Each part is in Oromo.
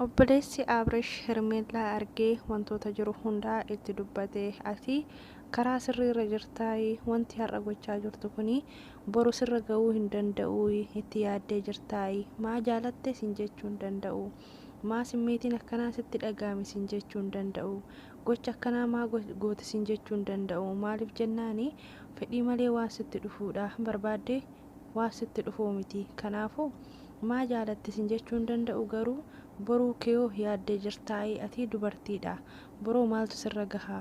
Obboleessi Abrish Hermeellaa argee wantoota jiru hundaa itti dubbate. Ati karaa sirriirra jirtaayi. Wanti har'a gochaa jirtu kuni boru sirra ga'uu hin danda'uuyi. Itti yaaddee jirtaayi. Maa jaalatte sin jechuu hin danda'u. Maa simmeetiin akkanaa sitti dhaga'ame sin jechuu hin danda'u. Gocha akkanaa maa goote sin jechuu hin danda'u. Maaliif jennaani fedhii malee waan sitti dhufuudha. Barbaaddee. Waan sitti dhufuu miti. Kanaafuu maa jaalatti sin jechuu hin danda'u garuu boruu keyoo yaaddee jirtaayii atii dubartiidha boroo maaltu sirra gaha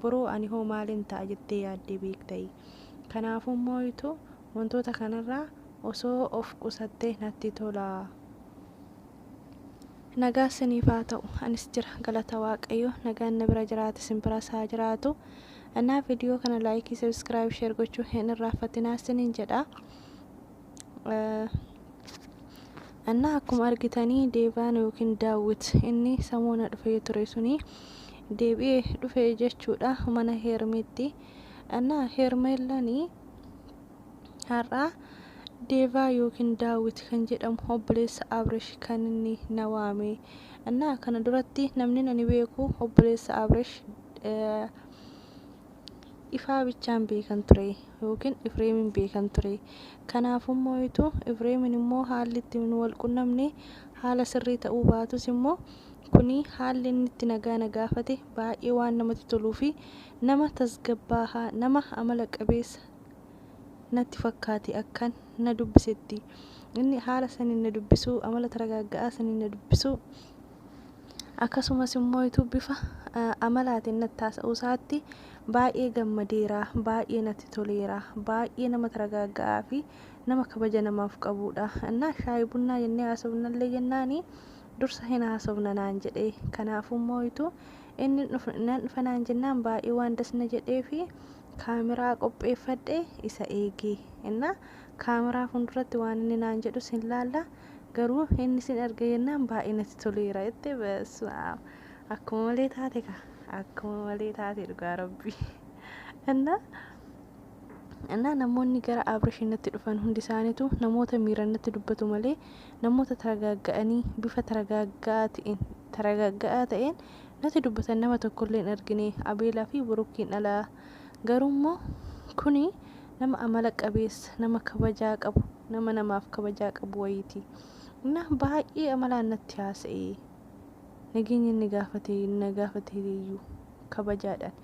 boroo ani hoo maalin ta'a jettee yaaddee beektayii kanaafuu mooytu wantoota kanarraa osoo of qusattee natti tola. Nagaa siniif haa ta'u anis jira galata waaqayyoo nagaan na bira jiraate sin biras haa jiraatu Naa video kana like subscribe share gochuu hin irraaffatinaa sinin jedha Naa akkuma argitanii deevaan yookiin daawwit inni samoona dhufee ture suni deebi'ee dhufe jechuudha mana heermiitti Naa heermeellanii Har'aa Deevaa yookiin Daawit kan jedhamu obboleessa Abrish kan inni na waame. Annaa kana duratti namni ani beeku obboleessa Abrish ifaa bichaan beekan ture yookiin Ifreemin beekan ture. Kanaafuu immoo ituu Ifreemin immoo haalli itti nu wal qunnamne haala sirrii ta'uu baatus immoo kuni haalli inni itti nagaa na gaafate baay'ee waan namatti toluu fi nama tasgabbaahaa nama amala qabeessa natti fakkaate akkan na dubbisetti. Inni haala saniin na dubbisuu, amala taragaagga'aa saniin na dubbisuu, akkasumas immooitu bifa amalaatiin natti haasa'uu isaatti baay'ee gammadeera, baay'ee natti toleera, baay'ee nama taragaagga'aa fi nama kabaja namaaf qabuudha. Innaa shaayi bunnaa jennee haasofnallee jennaani dursa hin haasofna naan jedhe. Kanaafuu immooitu inni nan dhufa naan jennaan baay'ee waan das na jedhee fi kaameraa qopheeffadhee isa eegi. Ennaa kaameraa fuulduratti waan inni naan jedhus hin laalla. Garuu inni sin arge jennaan baay'ee natti toleera jette basu'aam. Akkuma malee taate ka akkuma malee taate dhugaa rabbi. Ennaa Ennaa namoonni gara Abrishii natti dhufan hundi isaaniitu namoota miiran natti dubbatu malee namoota taragaagga'anii bifa taragaagga'aa ta'een taragaagga'aa ta'een Nati dubbatan nama tokkollee hin argine Abeelaa fi Burukiin ala. Garuu immoo kuni nama amala qabeessa, nama kabajaa qabu, nama namaaf kabajaa qabu wayiiti. Innaa baay'ee amalaan natti haasa'e. Nageenya inni gaafate na gaafateeyyuu kabajaadhaan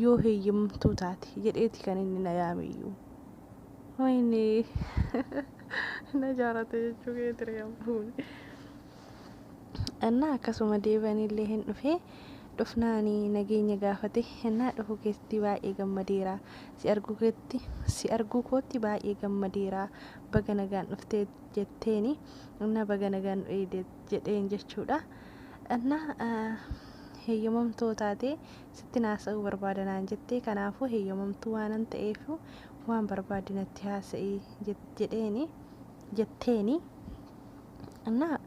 yoo heeyyamamtuu taate jedheeti kan inni na yaameyyuu. Wayinee na jaalate jechuu keetire ammuun. Ennaa akkasuma deebi'anillee hin dhufe. Dhufnaan nageenya gaafate. Ennaa dhufuu keetti baay'ee gammadeera. Si arguu keetti, si arguu kootti baay'ee gammadeera. Baga nagaan dhufte jetteen. Ennaa baga nagaan nu eegde jedheen jechuudha. Ennaa heeyyamamtoo taate sittin haasa'uu barbaada naan jette. Kanaafuu heeyyamamtuu waanan ta'eef waan barbaadde natti haasa'i jedheen. jetteeni. Annaa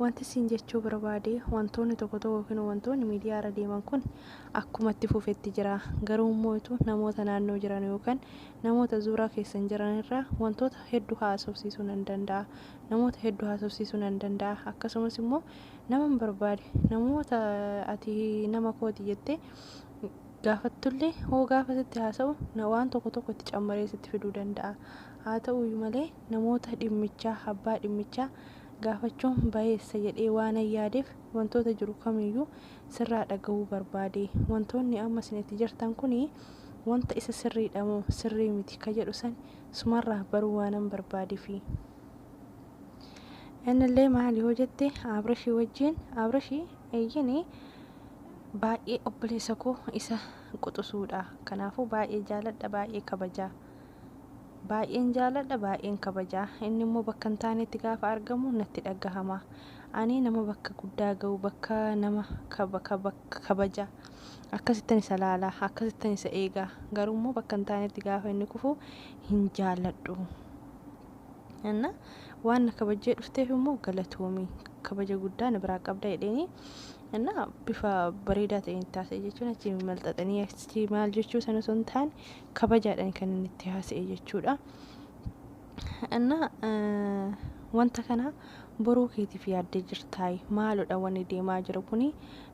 wanti siin jechuu barbaade wantoonni tokko tokko yookiin wantoonni miidiyaa irra deeman kun akkuma itti fufetti jira. Garuu immoo itu namoota naannoo jiran yookaan namoota zuuraa keessan jiran irraa wantoota hedduu haasofsiisuu nan danda'a. Namoota hedduu haasofsiisuu nan danda'a. Akkasumas immoo naman barbaade namoota ati nama kooti jettee gaafattullee hoo gaafa sitti haasa'u na- waan tokko tokko itti cammaree sitti fiduu danda'a. Haata'uuyyu malee namoota dhimmichaa, abbaa dhimmichaa, gaafachuun bayeessa jedhee waanan yaadeef wantoota jiru kamiiyyuu sirraa dhagahuu barbaade. Wantoonni amma isin itti jirtan kun wanta isa sirriidha moo sirrii miti ka jedhu san sumarraa baruu waanan barbaadeefi. Innillee maali hoo jette Abrashii wajjiin Abrashi eeyyeni baay'ee obboleessa koo isa quxusuudha. Kanaafuu baay'ee jaaladha baay'ee kabajaa. Baay'een jaaladha, baay'een kabaja. Inni immoo bakka hin taanetti gaafa argamu natti dhagahama. Ani nama bakka guddaa ga'u, bakka nama kaba, kaba, kabaja. Akkasittan isa laala, akkasittan isa eega. Garuu immoo bakka hin taanetti gaafa inni kufu hin jaaladhu. Anna waan na kabajjee dhufteef immoo galatoomi. Kabaja guddaa na biraa qabda jedheeni. Anna bifa bareedaa ta'een itti haasa'e jechuun achi malxaxanii achi maal jechuu sana osoo hin taane kabajaadhani kan inni itti haasa'e jechuudha. Anna wanta kana boruu keetiif yaaddee jirtaay maalodha wanni deemaa jiru kuni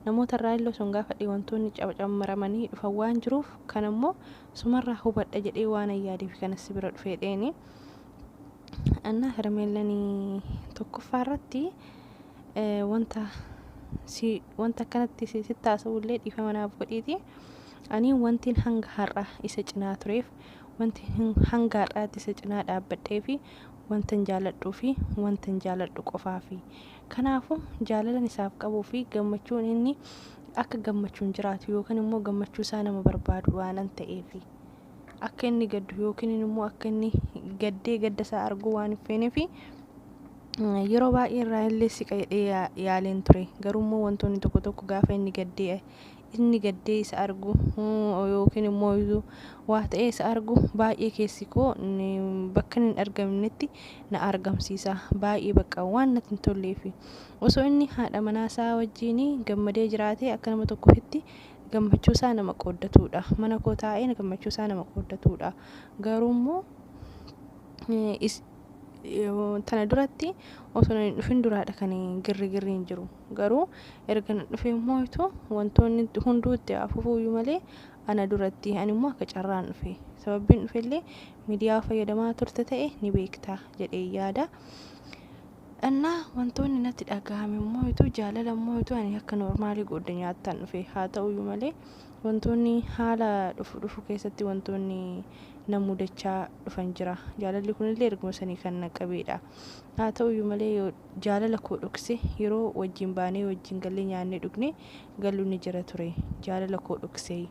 namoota irraa illee sun gaafadhe wantoonni cabacammaramanii dhufan waan jiruuf kan ammoo sumarraa hubadha jedhee waan ayyaadeef kana si bira dhufee dheeni. Anna hermeellanii tokkoffaa irratti wanta si wanta akkanatti sitti haasa'u illee dhiifama naaf godhiiti. Ani wantin hanga har'a isa cinaa tureef, wanti hanga har'aatti isa cinaa dhaabbadheefi wantan jaaladhuufi wantan jaaladhu qofaafi. Kanaafuu, jaalalan isaaf qabuufi gammachuun inni akka gammachuun jiraatu yookiin immoo gammachuusaa nama barbaadu waanan ta'eefi. Akka inni gaddu yookiin immoo akka inni gaddee gaddasaa arguu waan hin feeneefi yeroo baay'ee irraa illee siqa jedhee yaaleen ture. Garuu immoo wantoonni tokko tokko gaafa inni gaddee inni gaddee isa argu yookiin immoo iyyuu waa ta'ee isa argu baay'ee keessi koo bakka inni hin argamnetti na argamsiisa. Baay'ee bakka waan natti hin tollee fi osoo inni haadha manaa isaa wajjin gammadee jiraatee akka nama tokko ofitti gammachuu isaa nama qooddatuudha. Mana koo taa'ee gammachuu isaa nama qooddatuudha. Garuu immoo Tana duratti osoo hin dhufin duraadha kan girrigirriin jiru. Garuu erga na dhufee immoo itoo wantoonni hunduu itti hafufuuyyuu malee ana duratti ani immoo akka carraan dhufe. Sababbiin dhufellee miidiyaa fayyadamaa turte ta'e ni beekta jedhee yaada. Annaa wantoonni natti dhaga'ame immoo itoo jaalala immoo itoo ani akka noormaalii goodda nyaattan dhufe. Haa ta'uyyuu malee Wantoonni haala dhufu dhufu keessatti wantoonni na mudachaa dhufan jira. Jaalalli kunillee erguma sanii kan na qabeedha. Haa ta'uyyuu malee yoo jaalala koo dhokse yeroo wajjin baanee wajjin gallee nyaannee dhugnee gallu ni jira ture. Jaalala koo dhoksee.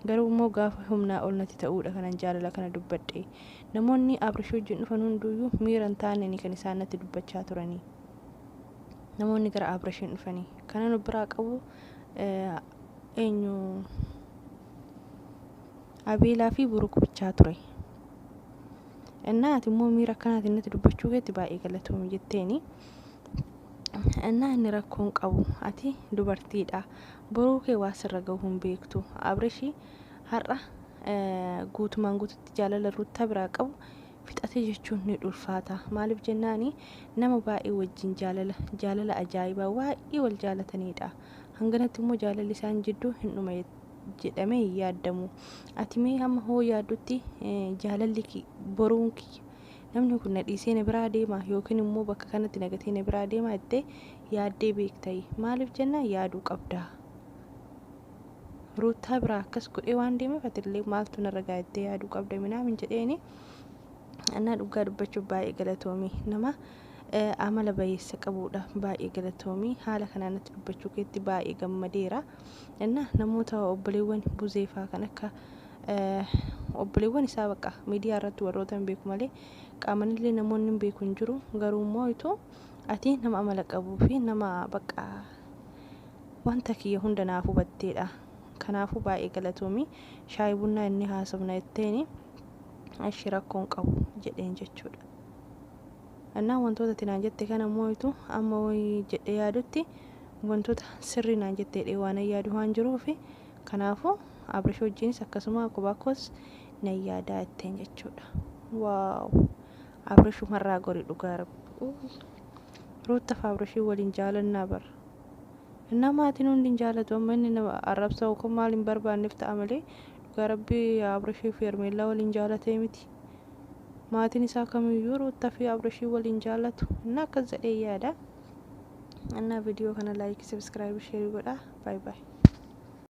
Garuu immoo gaafa humnaa ol natti ta'uudha kanan jaalala kana dubbadhe. Namoonni Abrish wajjin dhufan hunduuyyuu miira hin taaneni kan isaan natti dubbachaa turanii. Namoonni gara Abrishiin dhufanii. Kanan of biraa qabu eenyu Abeelaa fi Buruk bichaa ture. Innaa ati immoo miira akkanaatiin natti dubbachuu keetti baay'ee galatoomi jetteeni. Innaa inni rakkoo hin qabu ati dubartiidha. Boruu kee waa sirra gahu hin beektu. Abreshi har'a eh, guutumaan guututti jaalala ruuttaa biraa qabu fixate jechuun ni ulfaata. Maaliif jennaani nama baay'ee wajjin jaalala jaalala ajaa'ibaa baay'ee wal jaalataniidha. Hanganatti immoo jaalalli isaan jidduu hin dhuma jedhamee hin yaadamu. Ati mee hamma hoo yaaddutti jaalalli boruun kiyya namni kun na dhiisee na biraa deema yookiin immoo bakka kanatti na gatee na biraa deema jettee yaaddee beektayi. Maaliif jennaan yaaduu qabdaa. Ruuttaa biraa akkas godhee waan deemeef atillee maaltu narra ga'a jettee yaaduu qabda minaamin jedheeni. Annaa dhugaa dubbachuuf baay'ee galatoomi nama amala bayeessa qabuudha baay'ee galatoomii haala kanaa natti dubbachuu keetti baay'ee gammadeera inna namoota obboleewwan buzeefaa kan akka obboleewwan isaa baqa miidiyaa irratti warroota hin beeku malee qaamanillee namoonni hin beeku hin jiru garuu immoo itoo ati nama amala qabuu fi nama baqa wanta kiyya hunda naaf hubatteedha kanaafuu baay'ee galatoomii shaayii bunnaa inni haasofna jetteeni ashi rakkoon qabu jedheen jechuudha. Ennaan wantoota ati naan jette kana mooytu amma woy jedhee yaadutti wantoota sirrii naan jette jedhee waanan yaadu waan jiruufi kanaafuu Abrish wajjiinis akkasuma kophaa koos nan yaadaa jetteen jechuudha. Wow! Abrish umarraa gori dhugaa rabbi. Ruuttaf Abrishii waliin jaalannaa bar. Ennaa maatiin hundi hin jaalatu amma inni na arrabsa yookaan maal hin barbaannef ta'a malee dhugaa rabbi Abrishii fi Hermeellaa waliin jaalatee miti. maatiin isaa kamiyyuu ruutta fi abrashii waliin jaallatu inni akkas jedhee yaada annaa viidiyoo kana laayikii sabiskiraayib sheerii godhaa baay baay